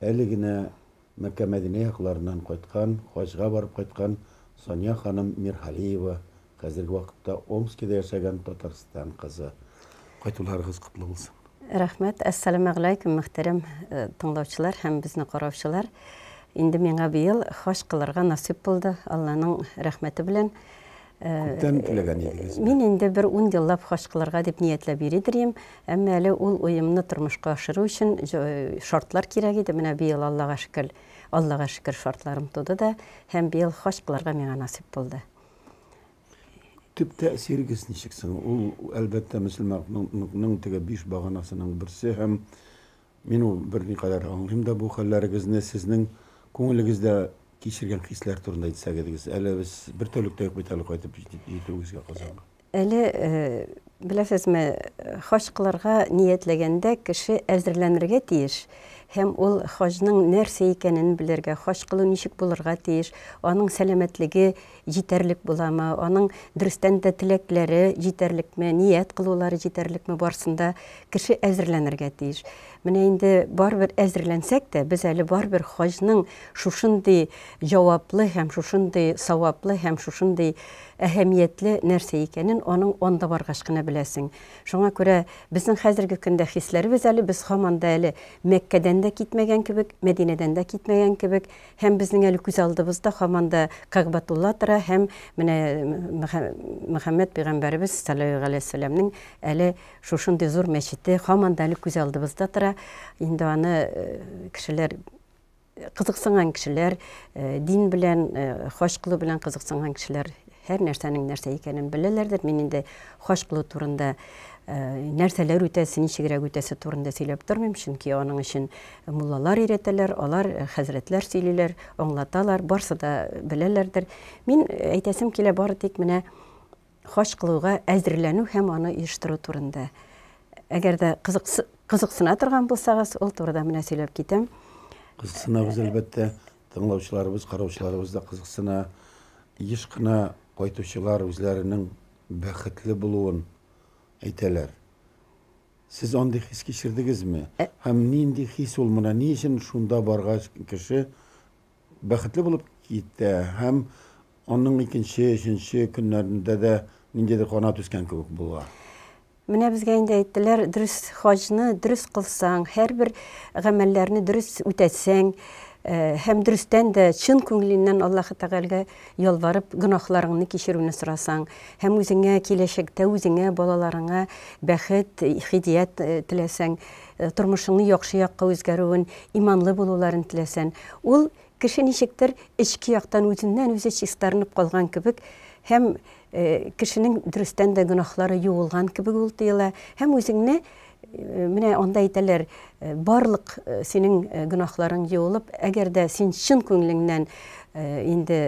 Әле генә Мәккә-Мәдинә якларыннан кайткан, хаҗга барып кайткан Сания ханым Миргалиева, хәзерге вакытта Омскида яшәгән Татарстан кызы. Кайтуларыгыз котлы булсын! Рәхмәт! Әссәламәгъләйкүм, мөхтәрәм тыңлаучылар һәм безне караучылар! Инде миңа быел хаҗ кылырга насыйп булды, Алланың рәхмәте белән. Күптән теләгән идегезме? Мин инде бер ун еллап хаҗ кылырга дип ниятләп йөри дирим. Әмма әле ул уемны тормышка ашыру өчен шартлар кирәк иде. Менә быел, Аллага шөкер, Аллага шөкер, шартларым туды да һәм быел хаҗ кылырга миңа насыйп булды. Төп тәэсирегез ничек соң? Ул, әлбәттә, мөселманлыкның теге биш баганасының берсе һәм Мин ул берникадәр аңлыйм да бу хәлләрегезне, сезнең күңелегездә кичергән хисләр турында әйтсәгедгез, әле без бер тәүлектә юк бит әле кайтып җитеп җитүегезгә Казанга. Әле, беләсезме, хаҗ кылырга ниятләгәндә кеше әзерләнергә тиеш һәм ул хаҗның нәрсә икәнен белергә, хаҗ кылу ничек булырга тиеш, аның сәламәтлеге, җитәрлек буламы, аның дөрестән дә теләкләре җитәрлекме, ният кылулары җитәрлекме, барсын да кеше әзерләнергә тиеш. Менә инде барыбер әзерләнсәк тә, без әле барыбер хаҗның шушындый җаваплы һәм шушындый саваплы һәм шушындый әһәмиятле нәрсә икәнен аның анда баргач кына беләсең. Шуңа күрә безнең хәзерге көндә хисләребез әле без һаман да әле Мәккәдән дә китмәгән кебек, Мәдинәдән дә китмәгән кебек, Һәм безнең әле күз алдыбызда һаман да Кәгъбәтулла тора һәм менә Мөхәммәд пәйгамбәребез салләллаһу галәйһи ва сәлләмнең әле шушындый зур мәчете һаман да әле күз алдыбызда тора. Инде аны кешеләр кызыксынган кешеләр, дин белән, хаҗ кылу белән кызыксынган кешеләр һәр нәрсәнең нәрсә икәнен беләләрдер. Мин инде хаҗ кылу турында нәрсәләр үтәсе, ничегрәк үтәсе турында сөйләп тормыйм, чөнки аның өчен Муллалар өйрәтәләр, алар, хәзрәтләр сөйлиләр, аңлаталар, барсы да беләләрдер. Мин әйтәсем килә бары тик менә хаҗ кылуга әзерләнү һәм аны оештыру турында. Әгәр дә кызыксына торган булсагыз, ул турыда менә сөйләп китәм. Кызыксынабыз, әлбәттә. Тыңлаучыларыбыз, караучыларыбыз да кызыксына. Еш кына кайтучылар үзләренең бәхетле булуын әйтәләр. Сез андый хис кичердегезме? Һәм нинди хис ул моны? Ни өчен шунда баргач кеше бәхетле булып китә һәм аның икенче, өченче көннәрендә дә ниндидер канат үскән кебек була? Менә безгә инде әйттеләр, дөрес хаҗны дөрес кылсаң, һәрбер гамәлләрне дөрес үтәсәң, э, һәм дөрестән дә чын күңеленнән Аллаһы Тәгаләгә Ялварып, гөнаһларыңны кичерүне сорасаң һәм үзеңә, киләчәктә үзеңә, балаларыңа бәхет, һидият теләсәң, тормышыңны яхшы якка үзгәрүен, иманлы булуларын теләсән, ул кеше ничектер эчке яктан үзеннән-үзе чистарынып калган кебек һәм Кешенең дөрестән дә гөнаһлары юылган кебек ул тоела һәм үзеңне менә анда әйтәләр, барлык синең гөнаһларың юылып, әгәр дә син чын күңелеңнән инде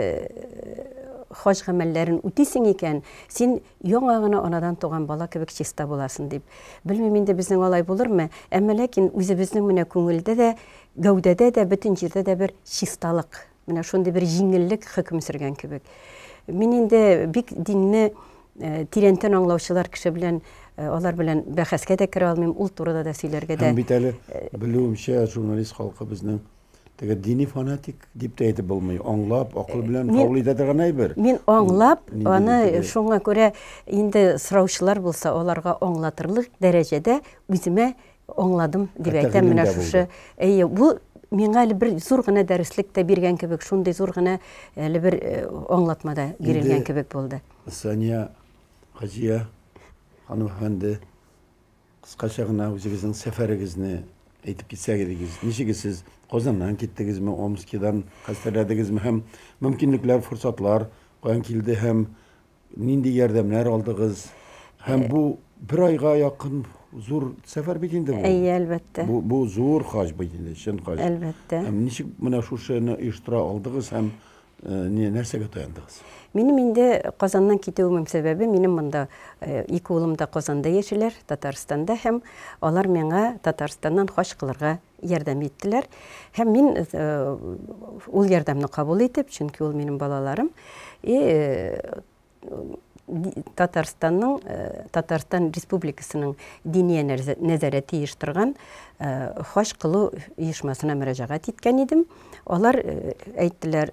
хаҗ гамәлләрен үтисең икән, син яңа гына анадан туган бала кебек чиста буласың, дип. Белмим инде безнең алай булырмы, әмма ләкин үзебезнең менә күңелдә дә, гәүдәдә дә, бөтен җирдә дә бер чисталык. Менә шундый бер җиңеллек хөкем сөргән кебек. Мин инде бик динне э, тирәнтен аңлаучылар кеше белән э, алар белән бәхәскә дә керә алмыйм, ул турыда да сөйләргә дә. Һәм бит әле э, белүемчә журналист халкы безнең теге дини фанатик дип тә әйтеп булмый. Аңлап, акыл белән кабул итә торган әйбер. Мин аңлап, аны шуңа күрә инде сораучылар булса, аларга аңлатырлык дәрәҗәдә үземә Аңладым, дип әйтәм, менә шушы. Әйе, бу миңа әле бер зур гына дәреслек тә биргән кебек, шундый зур гына әле бер э, аңлатма да бирелгән кебек булды. Сания Хаҗия ханым әфәнде, кыскача гына үзегезнең сәфәрегезне әйтеп китсәгез идегез. Ничек сез Казаннан киттегезме, Омскидан хәстәрләдегезме һәм мөмкинлекләр, форсатлар каян килде һәм Нинди ярдәмнәр алдыгыз? Һәм бу бер айга якын зур сәфәр бит инде бу. Әйе, әлбәттә. Бу, бу зур хаҗ бит инде, чын хаҗ. Әлбәттә. Һәм ничек менә шушыны оештыра алдыгыз һәм э, не, нәрсәгә таяндыгыз? Минем инде Казаннан китүемнең сәбәбе, минем монда э, ике улым да Казанда яшиләр, Татарстанда һәм алар миңа Татарстаннан хаҗ кылырга ярдәм иттеләр. Һәм мин ул ярдәмне кабул итеп, чөнки ул минем балаларым, и Татарстанның, Татарстан Республикасының Диния нәзарәте оештырган хаҗ кылу оешмасына мөрәҗәгать иткән идем. Алар әйттеләр,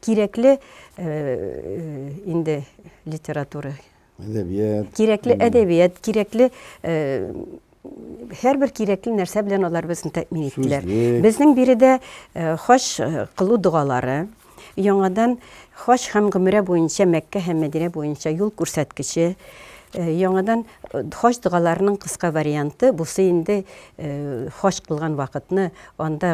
кирәкле инде литература әдәбият кирәкле әдәбият кирәкле һәрбер кирәкле нәрсә белән алар безне тәэмин иттеләр безнең биредә хаҗ кылу догалары яңадан хаҗ һәм гөмерә буенча мәккә һәм мәдинә буенча юл күрсәткече яңадан хаҗ догаларының кыска варианты бусы инде хаҗ кылган вакытны Анда,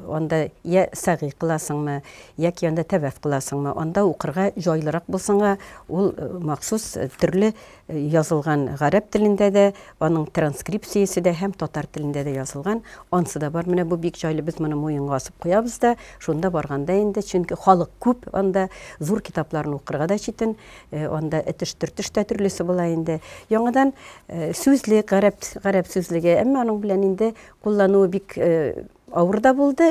анда йә сәгый кыласыңмы, яки анда тәваф кыласыңмы, анда укырга җайлырак булсынга, ул махсус төрле язылган, гарәп телендә дә, аның транскрипциясе дә һәм татар телендә дә язылган, ансы да бар. Менә бу бик җайлы, без моны муенга асып куябыз да, шунда барганда инде, чөнки халык күп анда, зур китапларны укырга да читен. Э, анда этеш-төртеш тә төрлесе була инде. Яңадан э, сүзлек, гарәп, гарәп сүзлеге, әмма аның белән инде куллануы бик э, авыр да булды,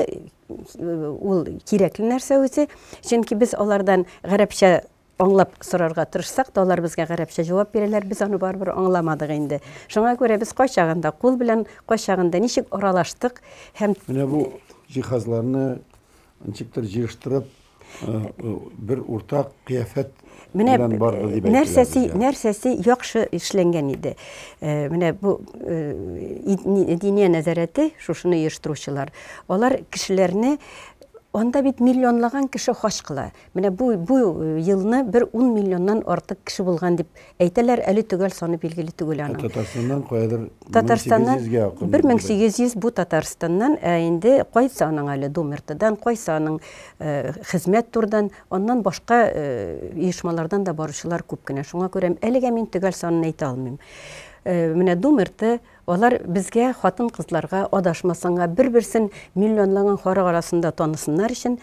ул кирәкле нәрсә үзе, чөнки без алардан гарәпчә аңлап сорарга тырышсак та алар безгә гарәпчә җавап бирәләр без аны барыбер аңламадык инде шуңа күрә без кайчагында кул белән кайчагында ничек аралаштык һәм менә бу җиһазларны ничектер җыештырып бер уртак кыяфәт менә нәрсәсе нәрсәсе яхшы эшләнгән иде менә бу диния нәзарәте шушыны оештыручылар алар кешеләрне анда бит миллионлаган кеше хач кыла менә бу бу елны бер ун миллионнан артык кеше булган дип Әйтәләр, әле төгәл саны билгеле түгел аның. Татарстаннан каядыр 1800 ге якын. 1800 бу Татарстаннан, ә инде кайсы аның әле Думертадан, кайсы аның э, хезмәт турдан, аннан башка э, оешмалардан да баручылар күп кенә. Шуңа күрә әлегә мин төгәл санын әйтә алмыйм. Э, менә Думерты алар безгә хатын-кызларга адашмасынга, бер-берсен миллионлаган харак арасында танысыннар өчен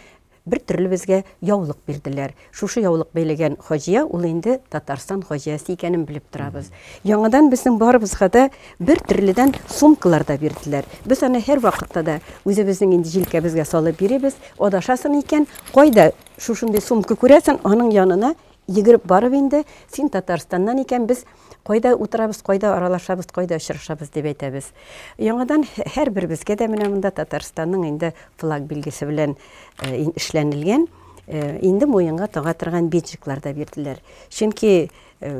Бер төрле безгә яулык бирделәр. Шушы яулык бәйләгән хаҗия, ул инде Татарстан хаҗиясе икәнен белеп торабыз. Яңадан безнең барыбызга да бер төрледән сумкалар да бирделәр. Без аны һәрвакытта да үзебезнең инде җилкәбезгә салып йөрибез. Адашасың икән, кайда шушындый сумка күрәсең, аның янына Йөгереп барып инде, син Татарстаннан икән, без кайда утырабыз, кайда аралашабыз, кайда очрашабыз дип әйтәбез. Яңадан һәрберебезгә дә менә монда Татарстанның инде флаг билгесе белән э, эшләнелгән, э, инде муенга тага торган биджиклар да бирделәр. Чөнки э,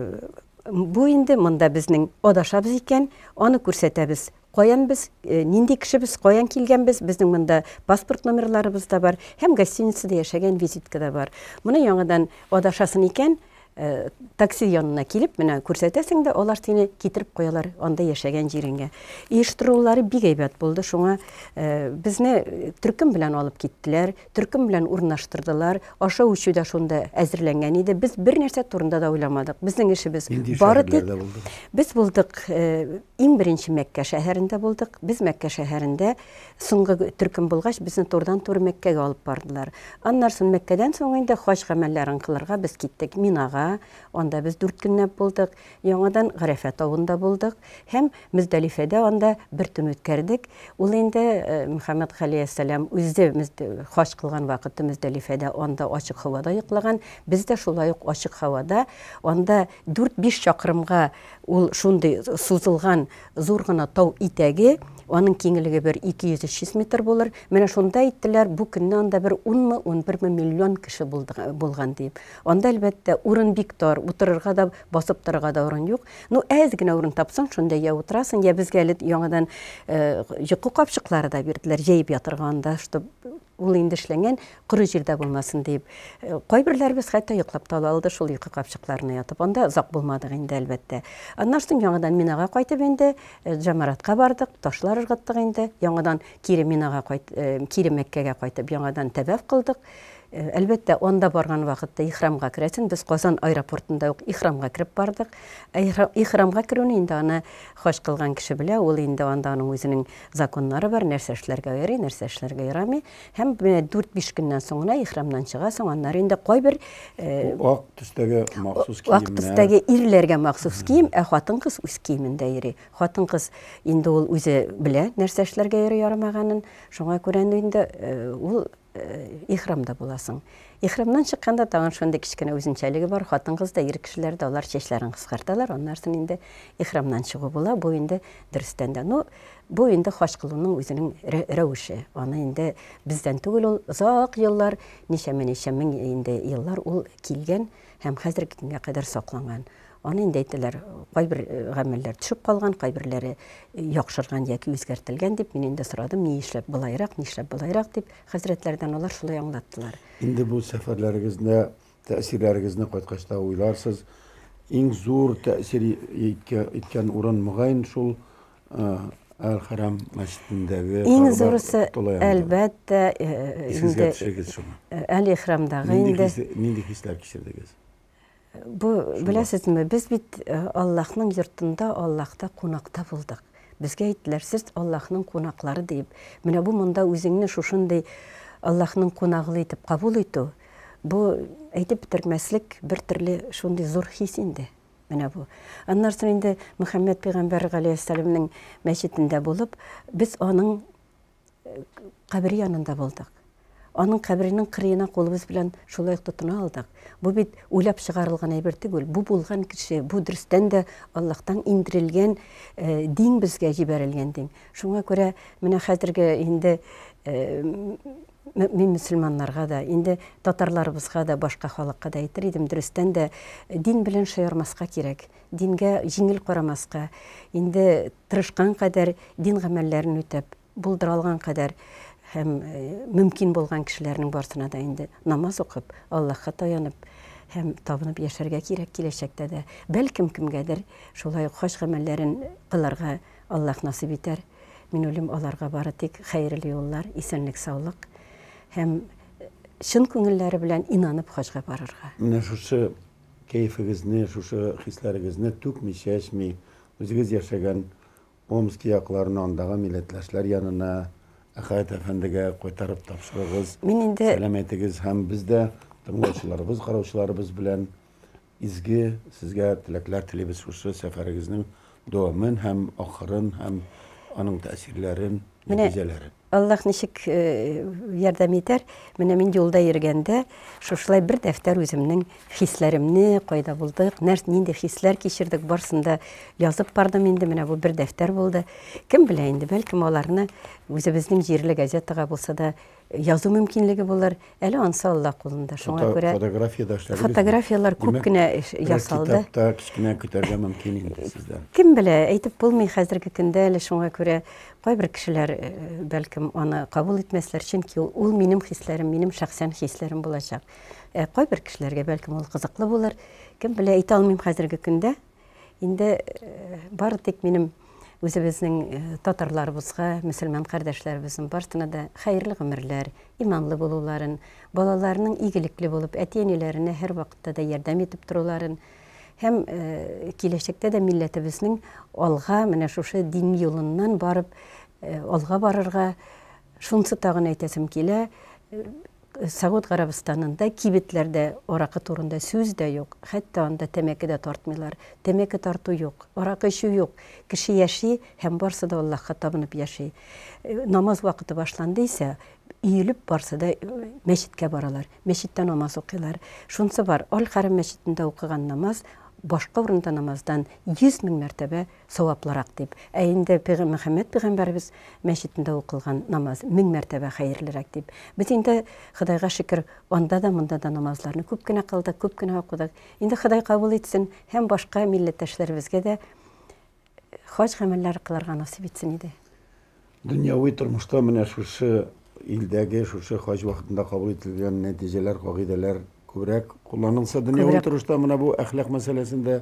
бу инде монда безнең адашабыз икән, аны күрсәтәбез. Каян без, нинди кешебез, каян килгәнбез, безнең монда паспорт номерларыбыз да бар һәм гостиницада яшәгән визитка да бар. Моны яңадан адашасын икән, такси янына килеп, менә күрсәтәсең дә, алар сине китереп куялар анда яшәгән җиренгә. Оештырулары бик әйбәт булды, шуңа безне төркем белән алып киттеләр. төркем белән урнаштырдылар. Ашау-эчү дә шунда әзерләнгән иде. Без бер нәрсә турында да уйламадык. Безнең эшебез бары тик без булдык, э, иң беренче Мәккә шәһәрендә булдык. Без Мәккә шәһәрендә соңгы төркем булгач, безне турыдан-туры Мәккәгә алып бардылар. Аннары соң Мәккәдән соң инде хаҗ гамәлләрен кылырга без киттек Минага. Анда без дүрт көнләп булдык. Яңадан Гарәфә тавында булдык һәм Мөздәлифәдә анда бер төн үткәрдек. Ул инде Мөхәммәд галәйһиссәлам үзе хаҗ кылган вакыты Мөздәлифәдә анда ачык һавада йоклаган. Без дә шулай ук ачык һавада, анда дүрт-биш чакрымга ул шундый сузылган зур гына тау итәге, аның киңлеге бер 200-300 йөз метр булыр, менә шунда әйттеләр, бу көнне анда бер унмы, унберме миллион кеше булган диеп. Анда, әлбәттә, урын бик тар, утырырга да, басып торырга да урын юк. Ну, әз генә урын тапсаң, шунда я утырасың, я безгә әле яңадан йокы капчыклары да бирделәр, җәеп ятырга анда, чтоб ул инде эшләнгән, коры җирдә булмасын дип. Кайберләребез хәтта йоклап та ала алды шул йокы капчыкларына ятып. Анда озак булмадык инде, әлбәттә. Аннан соң яңадан Минага кайтып инде, Җамаратка бардык, ташлар ыргыттык инде. Яңадан кире Минага кайт, кире Мәккәгә кайтып, яңадан тәваф кылдык. Әлбәттә, анда барган вакытта ихрамга керәсең. Без Казан аэропортында ук ихрамга кереп бардык. Ә ихрамга керүне инде аны хаҗ кылган кеше белә, ул инде анда аның үзенең законнары бар, нәрсә эшләргә ярый, нәрсә эшләргә ярамый. Һәм менә дүрт-биш көннән соң гына ихрамнан чыгасың, аннары инде кайбер, Бу ак төстәге махсус киемнәр. Ак төстәге ирләргә махсус кием, ә хатын-кыз үз киемендә йөри. Хатын-кыз инде ул үзе белә, нәрсә эшләргә ярый-ярамаганын. Шуңа күрә инде ул Ихрамда буласың. Ихрамнан чыкканда тагын шундый кечкенә үзенчәлеге бар, хатын-кыз да, ир кешеләр дә алар чәчләрен кыскарталар, аннарсын инде ихрамнан чыгу була, бу инде дөрестән дә, ну, бу инде хаҗ кылуның үзенең рәвеше, аны инде бездән түгел ул, озак еллар, ничәмә-ничә мең инде еллар ул килгән һәм хәзерге көнгә кадәр сакланган. Аны инде әйтәләр, кайбер гамәлләр төшеп калган, кайберләре яхшырган яки үзгәртелгән дип, мин инде сорадым, ни эшләп болайрак, ни эшләп болайрак дип, хәзрәтләрдән алар шулай аңлаттылар. Инде бу сәфәрләрегезне, тәэсирләрегезне кайткач та уйларсыз, иң зур тәэсир иткән урын, мөгаен, шул Әл-Хәрам мәчетендәге Иң зурысы, әлбәттә, инде Әл-Ихрамдагы инде. Нинди хисләр кичердегез? Бу, беләсезме, без бит э, Аллаһның йортында, Аллаһта кунакта булдык. Безгә әйттеләр, сез Аллаһның кунаклары дип. Менә бу монда үзеңне шушындый Аллаһның кунаглы итеп кабул итү, бу әйтеп бетермәслек бер төрле шундый зур хис инде. Менә бу. Аннан соң инде Мөхәммәд пәйгамбәр галәйһиссәламнең мәчетендә булып, без аның кабере янында булдык. Аның каберенең кырыена кулыбыз белән шулай ук тотына алдык. Бу бит уйлап чыгарылган әйбер түгел. Бу булган кеше, бу дөрестән дә Аллаһтан индерелгән э, дин безгә җибәрелгән дин. Шуңа күрә менә хәзерге инде э, мин мөселманнарга да, инде татарларыбызга да, башка халыкка да әйтер идем, дөрестән дә дин белән шаярмаска кирәк. Дингә җиңел карамаска. Инде тырышкан кадәр дин гамәлләрен үтәп, булдыра алган кадәр һәм мөмкин булган кешеләрнең барсына да инде намаз укып, Аллаһка таянып һәм табынып яшәргә кирәк киләчәктә дә. Бәлкем, кемгәдер шулай ук хаҗ гамәлләрен кылырга Аллаһ насыйп итәр. Минуллим аларга бары тик хәерле юллар, исәнлек-саулык һәм чын күңелләре белән инанып хаҗга барырга. Менә шушы кәефегезне, шушы хисләрегезне түкми, чәчми, Үзегез яшәгән Омски якларына, андагы милләтләшләр янына, Әхәт әфәндегә кайтарып тапшырыгыз. Мин инде. Сәлам әйтегез һәм без дә тыңлаучыларыбыз, караучыларыбыз белән изге сезгә теләкләр телибез шушы сәфәрегезнең дәвамын һәм ахырын һәм аның тәэсирләрен, нәтиҗәләрен. Аллаһ ничек ярдәм итәр? Менә мин юлда йөргәндә, шушылай бер дәфтәр үземнең хисләремне, кайда булдык, нәрс, нинди хисләр кичердек, барсын да язып бардым инде. Менә бу бер дәфтәр булды. Кем белә инде, бәлкем аларны үзебезнең җирле газетага булса да язу мөмкинлеге булыр. Әле ансы Алла кулында. Шуңа күрә фотографиядә эшләдегез. Фотографияләр күп кенә ясалды. Китапта кечкенә көтәргә мөмкин инде сездән. Кем белә, әйтеп булмый хәзерге көндә әле шуңа күрә кайбер кешеләр э, бәлкем аны кабул итмәсләр, чөнки ул минем хисләрем, минем шәхсән хисләрем булачак. Ә кайбер кешеләргә бәлкем ул кызыклы булыр. Кем белә, әйтә алмыйм хәзерге көндә. Инде бары тик минем үзебезнең татарларыбызга, мөселман кардәшләребезнең барсына да хәерле гомерләр, иманлы булуларын, балаларының игелекле булып, әти-әниләренә һәрвакытта да ярдәм итеп торуларын һәм киләчәктә дә милләтебезнең алга менә шушы дин юлыннан барып алга барырга, шунсы тагын әйтәсем килә, Согуд Гарәбстанында кибетләрдә аракы турында сүз дә юк, хәтта анда тәмәке дә тартмыйлар. Тәмәке тарту юк, аракы эчү юк. Кеше яши һәм барсы да Аллаһка табынып яши. Намаз вакыты башланды исә, өелеп барсы да мәчеткә баралар, мәчеттә намаз укыйлар. Шунсы бар, Аль-Хәрәм мәчетендә укыган намаз башка урында намаздан йөз мең мәртәбә саваплырак дип. Ә инде пигы Мөхәммәд пигамбәребез мәчетендә укылган намаз мең мәртәбә хәерлерәк дип. Без инде, Ходайга шөкер, анда да, монда да намазларны күп кенә кылдык, күп кенә укыдык. Инде Ходай кабул итсен һәм башка милләттәшләребезгә дә хаҗ гамәлләре кылырга насыйп итсен иде. Дөньяви тормышта менә шушы илдәге, шушы хаҗ вакытында кабул ителгән нәтиҗәләр, кагыйдәләр күбрәк кулланылса, дөньяви Күбрәк. торышта менә бу әхлак мәсьәләсендә